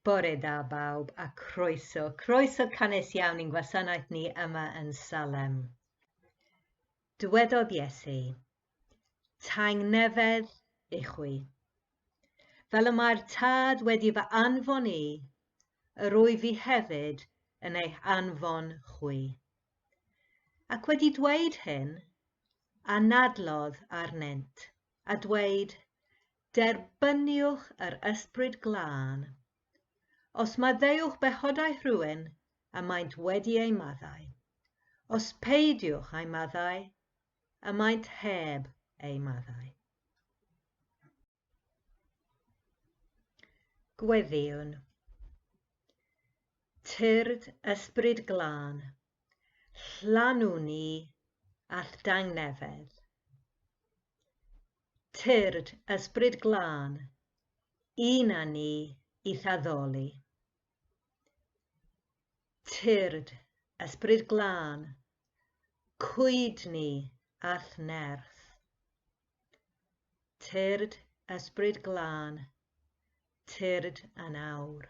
Bore da bawb a croeso, croeso canys iawn i'n gwasanaeth ni yma yn Salem. Dywedodd Iesu, Taeng nefedd i chwi. Fel y mae'r tad wedi fy anfon i, yr wyf fi hefyd yn eich anfon chwi. Ac wedi dweud hyn, anadlodd arnynt, a dweud, Derbyniwch yr Ysbryd Glân. Os maddeuwch bechodau rhywun y maent wedi eu maddau, os peidiwch a'u maddau, y maent heb eu maddau. Gweddïwn. Tyrd ysbryd glân, llanw ni a'th dangnefedd. Tyrd ysbryd glân, un a ni i'th addoli. Tyrd ysbryd glân, cwyd ni a'th nerth. Tyrd ysbryd glân, tyrd yn awr.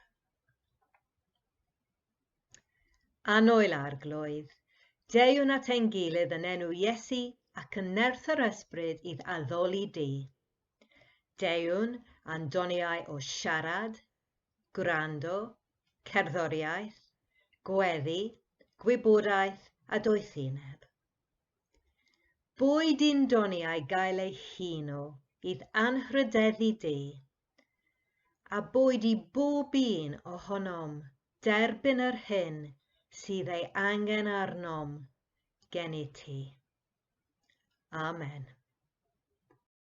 Annoel arglwydd, deuwn at ein gilydd yn enw Iesu ac yn nerth yr ysbryd idd addoli di. Deuwn a'n doniau o siarad, gwrando, cerddoriaeth, gweddi, gwybodaeth a doethineb. Boed un doniau gael ei hun o idd anrhydeddu di, a boed i bob un ohonom derbyn yr hyn sydd ei angen arnom gennyt ti. Amen.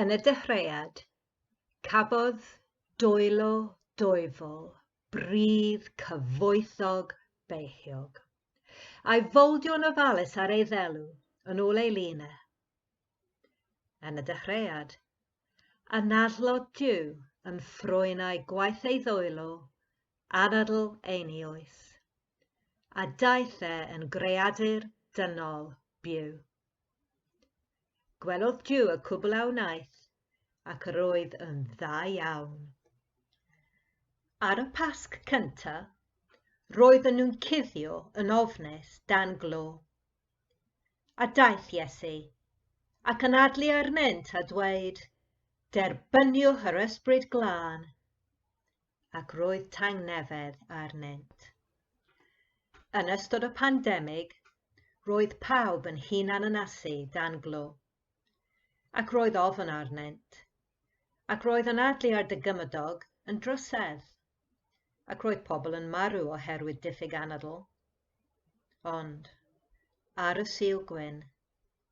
Yn y dechreuad, cafodd dwylo dwyfol bridd cyfoethog beichiog, a'i foldio'n ofalus ar ei ddelw, yn ôl ei lun e. Yn y dechreuad, anadlodd Duw yn ffrwynau gwaith ei ddwylo, anadl ei ni oes. a daeth e yn greadur dynol byw. Gwelodd Duw y cwbl a wnaeth, ac yr oedd yn dda iawn. Ar y Pasg cynta, roedden nhw'n cuddio yn ofnus dan glo. A daeth Iesu, ac yn adlu arnynt a dweud, Derbyniwch yr ysbryd glân. ac roedd tangnefedd arnynt. Yn ystod y pandemig, roedd pawb yn hunan ynasu dan glo, ac roedd ofn arnynt, ac roedd yn adlu ar dy gymydog yn drysedd, ac roedd pobl yn marw oherwydd diffyg anadl. Ond, ar y Sul Gwyn,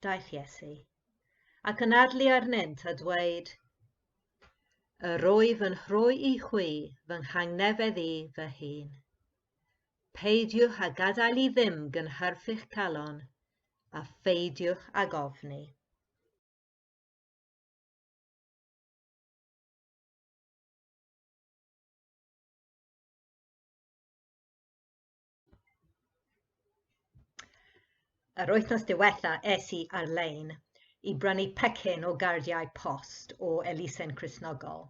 daeth Iesu, ac yn adlu arnynt a dweud, Yr oedd yn rhoi i chwi fy nghangnefedd i fy hun. Peidiwch a gadael i ddim gynhyrfu'ch calon, a pheidiwch ag ofni. Yr wythnos diwetha es i ar-lein i brynu pecyn o gardiau post o elusen Cristnogol.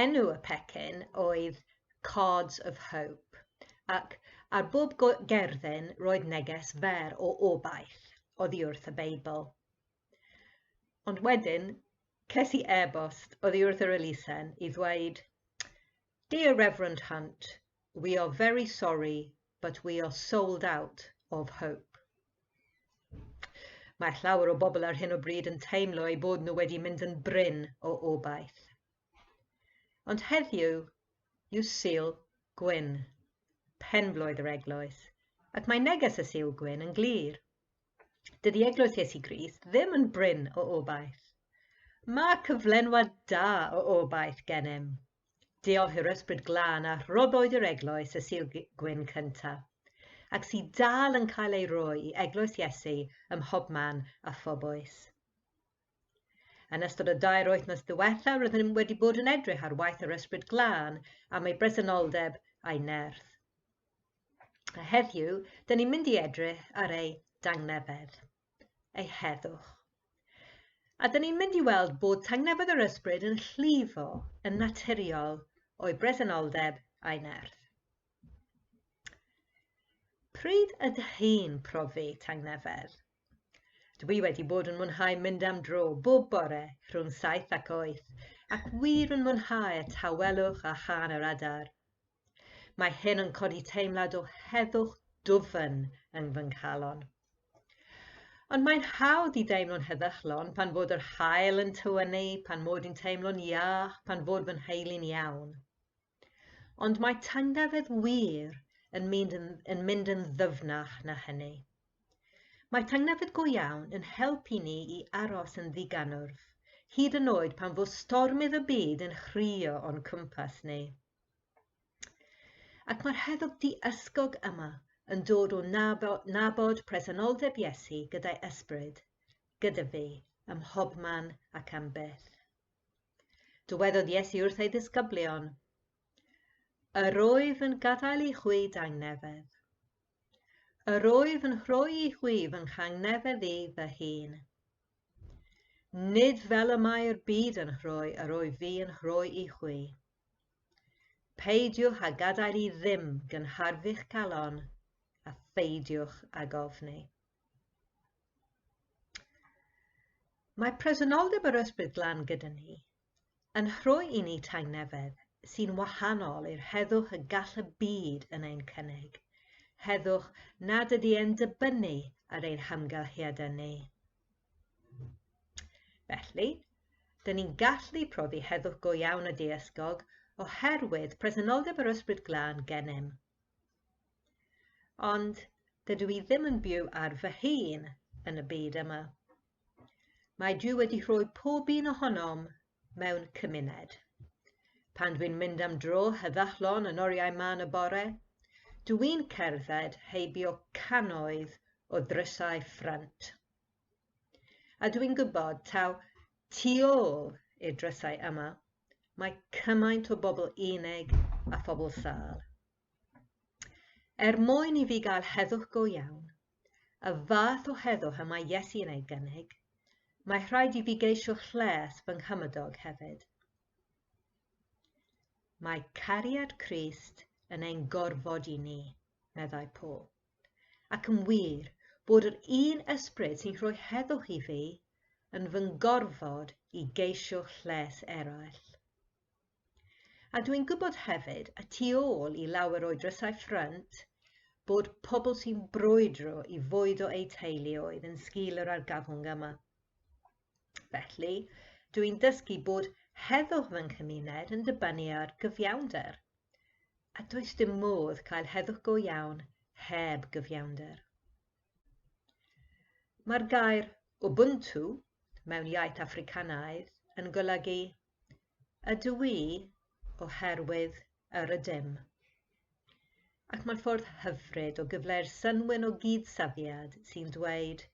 Enw y pecyn oedd Cards of Hope, ac ar bob gerddyn roedd neges fer o obaith oddi wrth y Beibl. Ond wedyn, ces i e-bost oddi wrth yr elusen i ddweud Dear Reverend Hunt, we are very sorry but we are sold out of hope. Mae llawer o bobl ar hyn o bryd yn teimlo eu bod nhw wedi mynd yn brin o obaith. Ond heddiw, yw Sul Gwyn, penblwydd yr eglwys, ac mae neges y Sul Gwyn yn glir. Dydy Eglwys Iesu Grist ddim yn brin o obaith. Mae cyflenwad da o obaith gennym. Diolch i'r Ysbryd Glân a rhoddwyd i'r Eglwys y Sul Gwyn cyntaf, ac sydd dal yn cael ei roi i Eglwys Iesu ym mhobman a phob oes. Yn ystod y dair wythnos ddiwetha rydym wedi bod yn edrych ar waith yr Ysbryd Glân am ei bresenoldeb a'i nerth. A heddiw, dyn ni'n mynd i edrych ar ei dangnefedd. eu heddwch. A dyn ni'n mynd i weld bod tangnefedd yr ysbryd yn llifo yn naturiol o'i bresenoldeb a'i nerth. Pryd ydych chi'n profi tangnefedd? Dwi wedi bod yn mwynhau mynd am dro bob bore rhwng saith ac oeth, ac wir yn mwynhau y tawelwch a chân yr adar. Mae hyn yn codi teimlad o heddwch dwfn yn fy nghalon. Ond mae'n hawdd i deimlo'n heddychlon pan fod yr haul yn tywynnu, pan mod i'n teimlo'n iach, pan fod fy nheulu'n iawn. Ond mae tangnefedd wir yn mynd yn, yn mynd yn ddyfnach na hynny. Mae tangnefedd go iawn yn helpu ni i aros yn ddiganwrf, hyd yn oed pan fo stormydd y byd yn chrio o'n cwmpas ni. Ac mae'r heddwch di-ysgog yma yn dod o nabod, nabod presenoldeb Iesu gyda'i ysbryd, gyda fi, ym mhobman ac am byth. Dywedodd Iesu wrth ei ddisgyblion, Yr oedd yn gadael i chwi dangnefedd. Yr oedd yn rhoi i chwi fy nghangnefedd i fy hun. Nid fel y mae'r byd yn rhoi, yr oedd fi yn rhoi i chwi. Peidiwch â gadael i ddim gynhyrfu'ch calon, a pheidiwch ag ofni. Mae presenoldeb yr Ysbryd Glân gyda ni yn rhoi i ni tangnefedd sy'n wahanol i'r heddwch y gall y byd yn ein cynnig, heddwch nad ydy e'n dibynnu ar ein hamgylchiadau ni. Felly, dyn ni'n gallu profi heddwch go iawn y deysgog oherwydd presenoldeb yr ysbryd glân gennym. Ond dydw i ddim yn byw ar fy hun yn y byd yma. Mae Duw wedi rhoi pob un ohonom mewn cymuned. Pan dwi'n mynd am dro heddychlon yn oriau man y bore, dw i'n cerdded heibio cannoedd o ddrysau ffrynt. A dw i'n gwybod taw tu ôl i'r drysau yma, mae cymaint o bobl unig a phobl sâl. Er mwyn i fi gael heddwch go iawn, y fath o heddwch y mae Iesu yn ei gynnig, mae rhaid i fi geisio lles fy nghymydog hefyd. Mae cariad Crist yn ein gorfod i ni, meddai Paul. Ac yn wir, bod yr un ysbryd sy'n rhoi heddwch i fi yn fy ngorfod i geisio lles eraill. A dwi'n gwybod hefyd, y tu ôl i lawer o'i drysau ffrynt, bod pobl sy'n brwydro i fwyd o eu teuluoedd yn sgil yr argyfwng yma. Felly, dwi'n dysgu bod heddwch fy nghymuned yn dibynnu ar gyfiawnder, a does dim modd cael heddwch go iawn heb gyfiawnder. Mae'r gair Ubuntu mewn iaith Africanaidd yn golygu ydw i oherwydd yr ydym. Ac mae'n ffordd hyfryd o gyfleu'r synwyn o gyd-safiad sy'n dweud,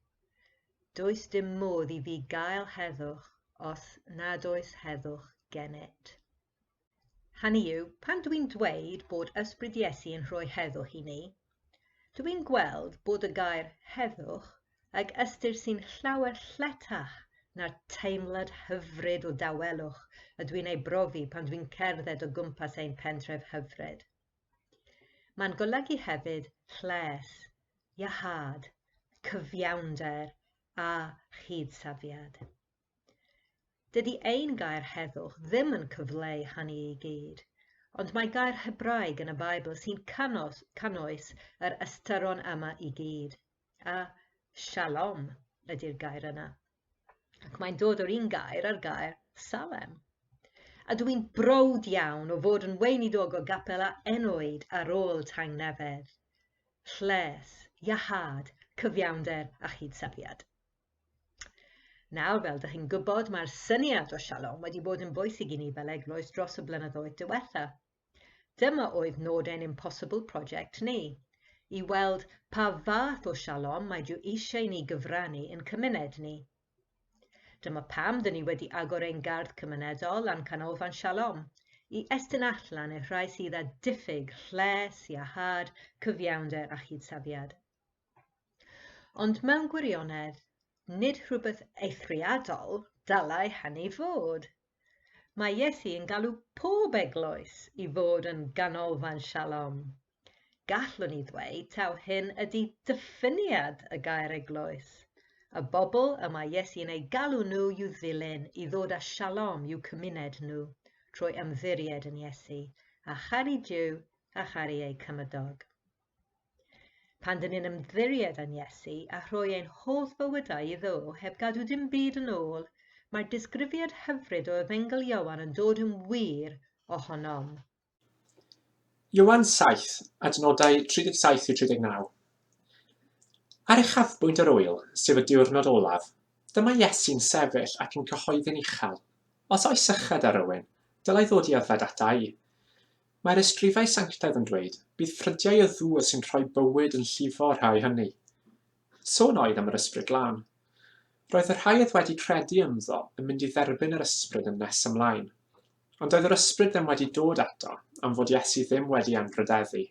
does dim modd i fi gael heddwch os nad oes heddwch gennyt. Hynny yw, pan dwi'n dweud bod Ysbryd Iesu yn rhoi heddwch i ni, Dw i'n gweld bod y gair heddwch ag ystyr sy'n llawer lletach na'r teimlad hyfryd o dawelwch y dwi'n ei brofi pan dwi'n cerdded o gwmpas ein pentref hyfryd. Mae'n golygu hefyd lles, iahâd, cyfiawnder a chyd-safiad. Dydy ein gair heddwch ddim yn cyfleu hynny i gyd, ond mae gair Hebraeg yn y Beibl sy'n canos, canoes yr ystyron yma i gyd, a shalom ydy'r gair yna. Ac mae'n dod o'r un gair a'r gair salem. A dw i'n browd iawn o fod yn weinidog o gapel a enoed ar ôl tangnefedd, lles, iahad, cyfiawnder a chyd-safiad. Nawr, fel dych chi'n gwybod, mae'r syniad o shalom wedi bod yn bwysig i ni fel eglwys dros y blynyddoedd diwetha. Dyma oedd nod ein Impossible Project ni, i weld pa fath o shalom mae Duw eisiau ni gyfrannu yn cymuned ni. Dyma pam dyn ni wedi agor ein gardd cymunedol a'n canolfan sialom, i estyn allan i'r rhai sydd â diffyg lles, iahad, cyfiawnder a chydsafiad. Ond mewn gwirionedd, nid rhywbeth eithriadol dylai hynny fod. Mae Iesu yn galw pob eglwys i fod yn ganolfan shalom. Gallwn ni ddweud taw hyn ydy diffiniad y gair eglwys. Y bobl y mae Iesu yn eu galw nhw i'w ddilyn i ddod â shalom i'w cymuned nhw trwy ymddiried yn Iesu, a charu Duw a charu eu cymydog. Pan dyn ni'n ymddiried yn Iesu a rhoi ein holl fywydau iddo heb gadw dim byd yn ôl, mae'r disgrifiad hyfryd o Efengyl Ioan yn dod yn wir ohonom. Ioan 7, adnodau 37 i 39. Ar uchafbwynt yr ŵyl, sef y diwrnod olaf, dyma Iesu'n sefyll ac yn cyhoeddi'n uchel, Os oes sychad ar rywun, dylai ddod i yfed ata i. Mae'r ysgrifau sanctaidd yn dweud, Bydd ffrydiau y ddŵr sy'n rhoi bywyd yn llifo rhai hynny. Sôn oedd am yr Ysbryd Glân. Roedd y rhai oedd wedi credu ynddo yn mynd i dderbyn yr Ysbryd yn nes ymlaen. Ond doedd yr Ysbryd ddim wedi dod eto, am fod Iesu ddim wedi anrhydeddu.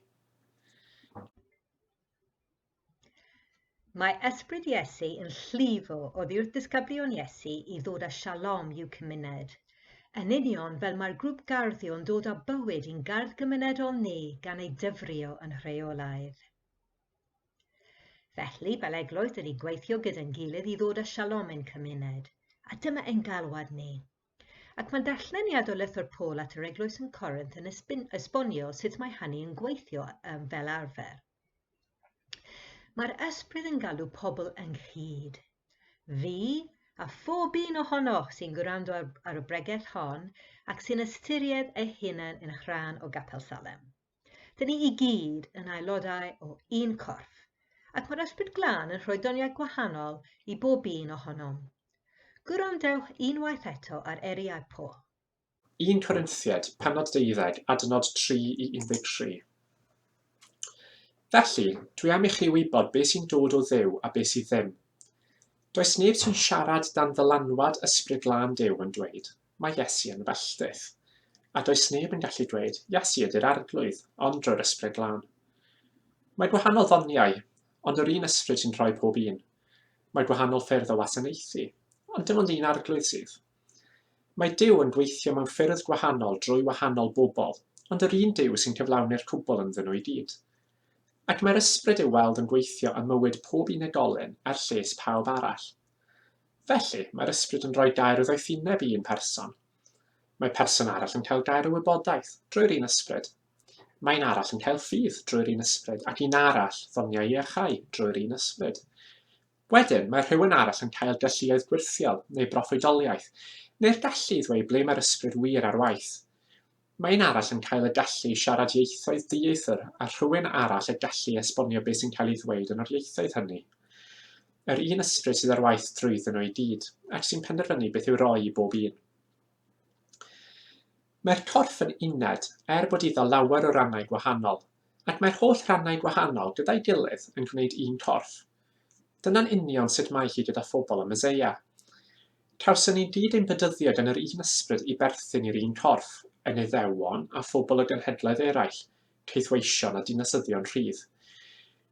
Mae ysbryd Iesu yn llifo oddiwrth ddisgyblion Iesu i ddod â shalom i'w cymuned. Yn union fel mae'r grŵp gardio'n dod â bywyd i'n gardd gymunedol ni gan ei dyfrio yn rheolaidd. Felly, fel eglwys, ydy gweithio gyda'n gilydd i ddod â shalom i'n cymuned, a dyma ein galwad ni. Ac mae darlleniad o lythyr Paul at yr eglwys yn Corinth yn esbonio sut mae hynny yn gweithio fel arfer. Mae'r ysbryd yn galw pobl ynghyd. Fi, a phob un ohonoch sy'n gwrando ar, ar y bregeth hon ac sy'n ystyried ei hunan yn rhan o Gapel Salem. Dyn ni i gyd yn aelodau o un corff, ac mae'r ysbryd glân yn rhoi doniau gwahanol i bob un ohonom. Gwrandewch unwaith eto ar eriau Paul. 1 Corinthiaid, penod 12, adnod 3 i 13. Felly, dwi am i chi wybod beth sy'n dod o ddew a beth sydd ddim. Does neb sy'n siarad dan ddylanwad ysbryd glân Duw yn dweud, mae Iesu yn felltith. A does neb yn gallu dweud, Iesu ydy'r arglwydd, ond drwy'r ysbryd glân. Mae gwahanol ddoniau, ond yr un ysbryd sy'n rhoi pob un. Mae gwahanol ffyrdd o wasanaethu, ond dim ond un arglwydd sydd. Mae Duw yn gweithio mewn ffyrdd gwahanol drwy wahanol bobl, ond yr un Duw sy'n cyflawni'r cwbl ynddyn nhw i gyd. Ac mae'r ysbryd i'w weld yn gweithio ym mywyd pob unigolyn er lles pawb arall. Felly, mae'r ysbryd yn rhoi gair o ddoethineb i un person. Mae person arall yn cael gair o wybodaeth, drwy'r un ysbryd. Mae un arall yn cael ffydd, drwy'r un ysbryd, ac un arall, ddoniau iachau, drwy'r un ysbryd. Wedyn, mae rhywun arall yn cael galluoedd gwyrthiol, neu broffwydoliaeth, neu'r gallu i ddweud ble mae'r ysbryd wir ar waith. Mae un arall yn cael y gallu i siarad ieithoedd dieithr a rhywun arall y gallu i esbonio beth sy'n cael ei ddweud yn yr ieithoedd hynny. Yr un ysbryd sydd ar waith drwyddyn nhw i gyd, ac sy'n penderfynu beth i'w roi i bob un. Mae'r corff yn uned, er bod iddo lawer o rannau gwahanol, ac mae'r holl rannau gwahanol gyda'i gilydd yn gwneud un corff. Dyna'n union sut mae hi gyda phobl y Meseia. Cawson ni gyd ein bedyddio gan yr un ysbryd i berthyn i'r un corff, yn Iddewon a phobl o genhedloedd eraill, caethweision a dinasyddion rhydd.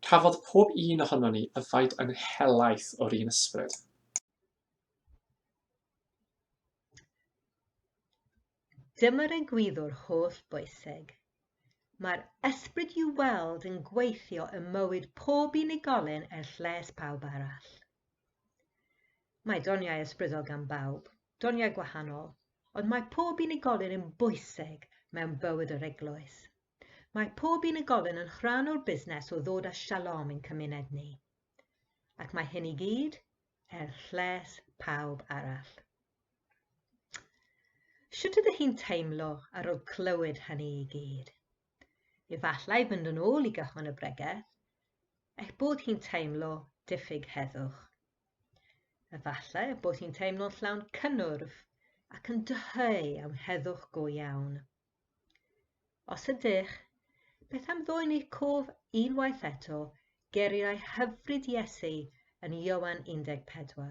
Cafodd pob un ohonon ni yfed yn helaeth o'r un ysbryd. Dyma'r egwyddor holl bwysig. Mae'r ysbryd i'w weld yn gweithio ym mywyd pob unigolyn er lles pawb arall. Mae doniau ysbrydol gan bawb, doniau gwahanol, ond mae pob unigolyn yn bwysig mewn bywyd yr eglwys. Mae pob unigolyn yn rhan o'r busnes o ddod â shalom i'n cymuned ni. Ac mae hyn i gyd er lles pawb arall. Sut ydych chi'n teimlo ar ôl clywed hynny i gyd? Efallai fynd yn ôl i gychwyn y bregeth, eich bod chi'n teimlo diffyg heddwch. Efallai bod chi'n teimlo'n llawn cynnwrf ac yn dyheu am heddwch go iawn. Os ydych, beth am ddwyn eich cof unwaith eto geriau hyfryd Iesu yn Ioan 14?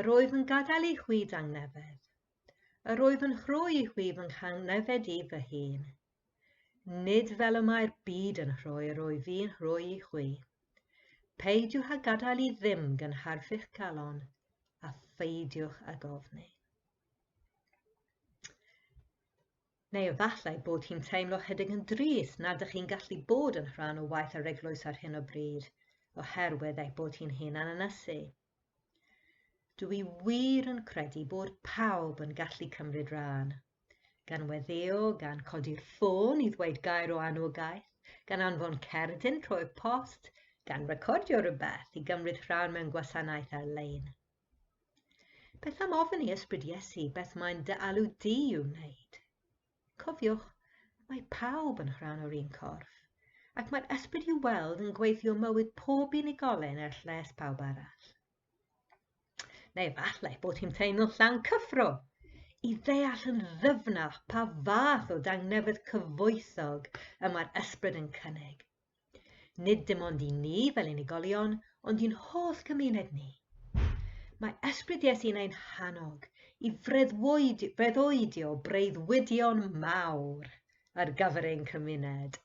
Yr oedd yn gadael ei chwi dangnefedd. Yr oedd yn rhoi ei chwi fy nghangnefed i fy hun. Nid fel y mae'r byd yn rhoi yr oedd fi'n rhoi i chwi. Peidiwch a gadael i ddim gynharfu'ch galon, a pheidiwch a gofni. Neu efallai bod hi'n teimlo chydig yn drist nad ydych chi'n gallu bod yn rhan o waith yr eglwys ar hyn o bryd, oherwydd ei bod hi'n hyn ananysu. Dw i wir yn credu bod pawb yn gallu cymryd rhan. Gan weddio, gan codi'r ffôn i ddweud gair o anogaeth, gan anfon cerdyn trwy'r post, gan recordio rhywbeth i gymryd rhan mewn gwasanaeth ar-lein. Beth am ofyn i Ysbryd Iesu beth mae'n dy alw di i'w wneud? Cofiwch, mae pawb yn rhan o'r un corff, ac mae'r ysbryd i'w weld yn gweithio mywyd pob unigolyn er lles pawb arall. Neu falle bod hi'n teimlo llawn cyffro i ddeall yn ddyfnach pa fath o dangnefedd cyfoethog y mae'r ysbryd yn cynnig. Nid dim ond i ni fel unigolion, ond i'n holl gymuned ni. Mae ysbryd Iesu'n ein hannog i freuddwydio breuddwydion mawr ar gyfer ein cymuned,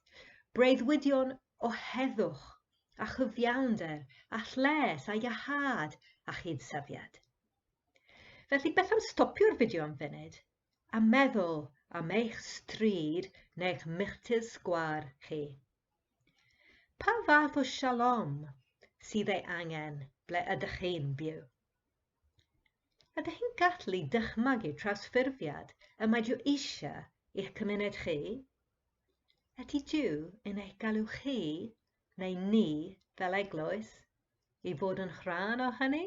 breuddwydion o heddwch a chyfiawnder a lles a iahad a chyd-safiad. Felly beth am stopio'r fideo am funud A meddwl am eich stryd neu'ch milltir sgwâr chi. Pa fath o shalom sydd ei angen ble ydych chi'n byw? Ydych chi'n gallu dychmygu trawsffurfiad y mae Duw eisiau i'ch cymuned chi? Ydy Duw yn eich galw chi, neu ni, fel eglwys, i fod yn rhan o hynny?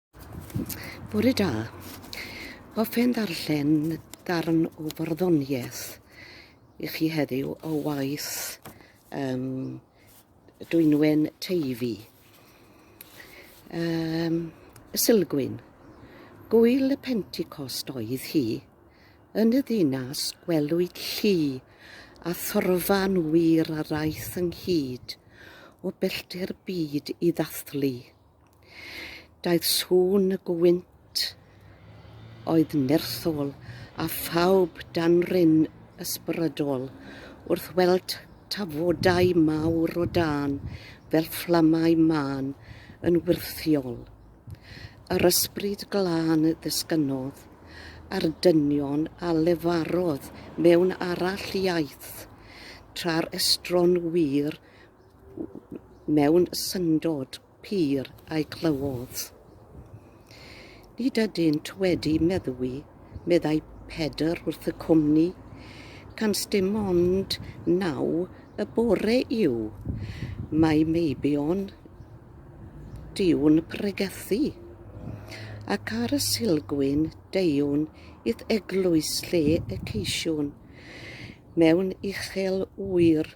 Bore da. Hoffen ddarllen darn o farddoniaeth i chi heddiw o waith um, Dwynwen Teifi. Um, y Silgwyn. Gwyl y Pentecost oedd hi. Yn y ddinas gwelwyd llu a thorfan wir a raeth ynghyd o bellter byd i ddathlu. Daeth sŵn y gwynt oedd nerthol a phawb dan ryn ysbrydol wrth weld tafodau mawr o dân fel fflamau mân yn wyrthiol. Yr ysbryd glân ddisgynnodd ar dynion a lefarodd mewn arall iaith, tra'r estron wir mewn syndod pur a'i glywodd. Nid ydynt wedi meddwi, meddai Pedr wrth y cwmni, cans dim ond naw y bore yw. Mae meibion diwn pregethu, ac ar y silgwyn deuwn i'th eglwys lle y ceisiwn, mewn uchel ŵyr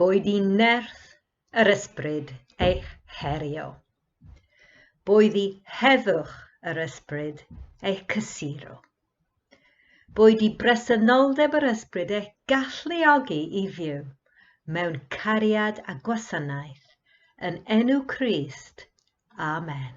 Boed i nerth yr ysbryd eich herio. Boed i heddwch yr ysbryd eich cysuro. Boed i bresenoldeb yr ysbryd eich galluogi i fyw mewn cariad a gwasanaeth yn enw Crist. Amen.